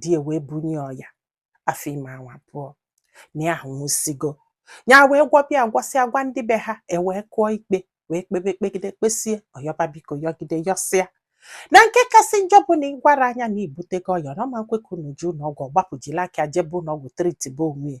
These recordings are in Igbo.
di ya wee bunye ọya afọ ime ọnwa abụọ na ya ahụ nwụsigo ya wee gwọbe ya gwọsịa gwa ndị be ha ewee kụọ ikpe wee kpebe kpegide kpesie ọ yọba biko yọgide yọsịa na nke kasị njọ bụ na ị gwara nya na i butego ọya na ọ ma nkwe ka unu jee ụlọọgwụ ọ gbapụ jili aka jebe ụlọọgwụ tritibe onwe ya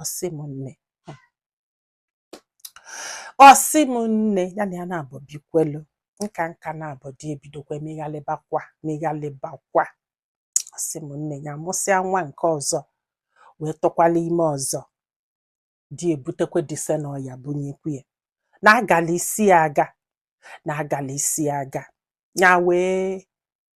ọ sị m nne ọ sị m nne ya na ya na-abụ bikwelu nka nka na-abụ di ebidokwa meghalịbakwa meghalịbakwa ọ sị m nne ya mụsịa nwa nke ọzọ wee tụkwala ime ọzọ di ebutekwa this same ọya bunyekwu ya na agala isi aga na agala isi aga ya wee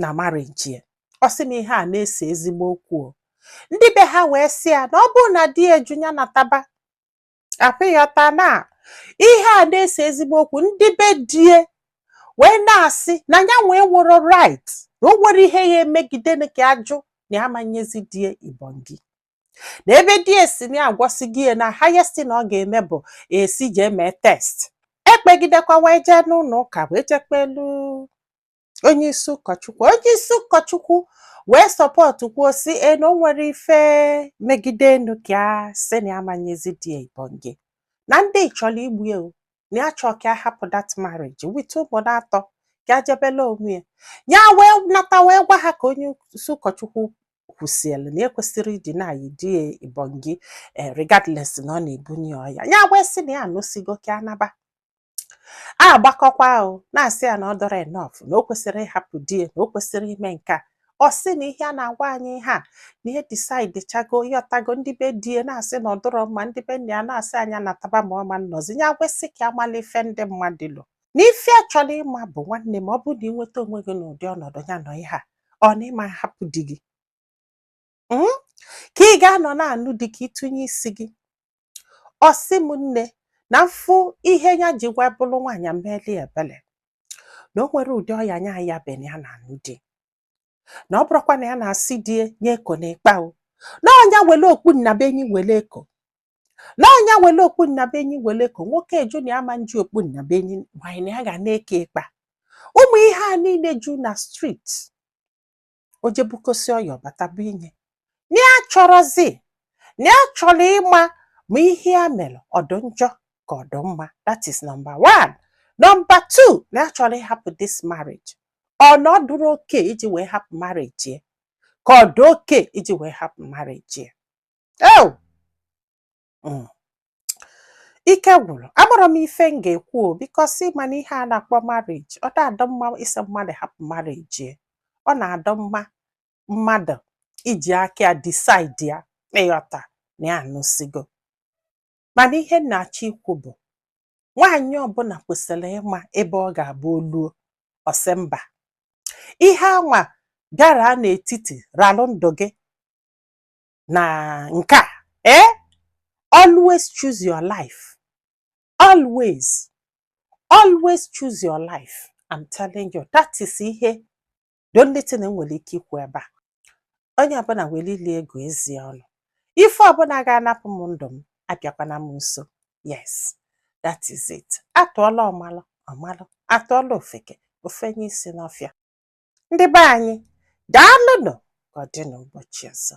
na marriage ya ọ sị m ihe a na-ese ezigbo okwu o ndị be ha wee sị ya na ọ bụrụ na di ya ajụ ya nataba I hope ị ghọta na ihe a na-ese ezigbo okwu ndị be di ya wee na-asị na ya enwerọ right na o nwere ihe ya emegide na ka ajụ na ya amanyezi di ya ibongi na ebe di ya sị na agwọsigo ya na highest na ọ ga-eme bụ esi jee mee test e kpegidekwa wee jee n'ụlọ ụka wee jekwulu onye isi ụkọchukwu onye isi ụkọchukwu wee support kwuo sị na o nwere ife megide enu ka ya sị na ya manyezi di ya ibonge na ndị chọrọ igbu ya o, na ya chọọ ka ya hapụ that marriage with ụmụ atọ ka ya jebela onwe ya ya wee nata wee gwa ha ka onye isi ụkọchukwu kwusịrị na ekwesịrị ịdị na-eyi di ya ibonge eh, regardless na ọ na-ebunye ya ọya ya wee sị na ya anụsigo ka ya naba a gbakọkwa ahụ na-asị ya na ọ dụrọ enough na o kwesịrị ịhapụ di ya na o kwesịrị ime nke a ọ sị na ihe a na-agwa anyị ihe a na ya decide chago ị ghọtago ndị be di ya na-asị na ọ dụrọ mma ndị be nna ya na-asị nya nataba ma ọ ma nnọzi ya wee sị ka ya mala ife ndị mmadụ lo na ife ya chọrọ ịma bụ nwanne m ọ bụrụ na ị nweta onwe gị n'ụdị ọnọdụ ya nọ ihe a ọ na ị ma hapụ di gị hmm? ka ị ga-anọ na-anụ di ka ị tụnye isi gị ọ sị m nne na mfụ ihe ya ji wee bụrụ nwaanyị meli ebele na o nwere ụdị ọya nya ya ben ya na anụ di na ọ bụrụkwa na ya na-asị di nye eko na ịkpa o na ọnya wele okpu nnabuenyi wele eko na ọnya wele okpu nnabuenyi wele eko nwoke ajụ na ama nji okpu nnabuenyi nwaanyị na ya ga na-eke ịkpa ụmụ ihe a niile ju na street o jee bukọsịa ọya ọ bata bunye na ya chọrọzi na ya chọrọ ịma ma ihe ya mere ọ dụ njọ ka ọ dụ mma that is number one number two na ya chọrọ ịhapụ this marriage ọ na ọ dụrọ okay iji wee hapụ marriage ya ka ọ dị okay iji wee hapụ marriage ya oh Mm. ike gwụrụ amarọ m ife m ga-ekwu o because ịma na ihe a na-akpọ marriage ọ na-adọ mma ịsị mmadụ hapụ marriage ya. ọ na-adọ mma mmadụ iji aka ya decide ya ịghọta na ya anụsigo mana ihe m na-achọ ikwu bụ nwaanyị ọbụla kwesịrị ịma ebe ọ ga-abụ oluo ọsị mba ihe anwa bịara n'etiti ralụ ndụ gị na nke a ee eh? always choose your life always always choose your life I'm telling you that is ihe the only thing m nwere ike ikwu ebe a onye ọbụla were ile ya gụọ eze ya ọnụ ife ọbụla ga-anapụ m ndụ m abịakwana m nso yes that is it atụọla ọmalụ ọmalụ atụọla ofeke ofenye isi n'ọfịa ndị be anyị daalụnụ ka ọ dị n'ụbọchị ọzọ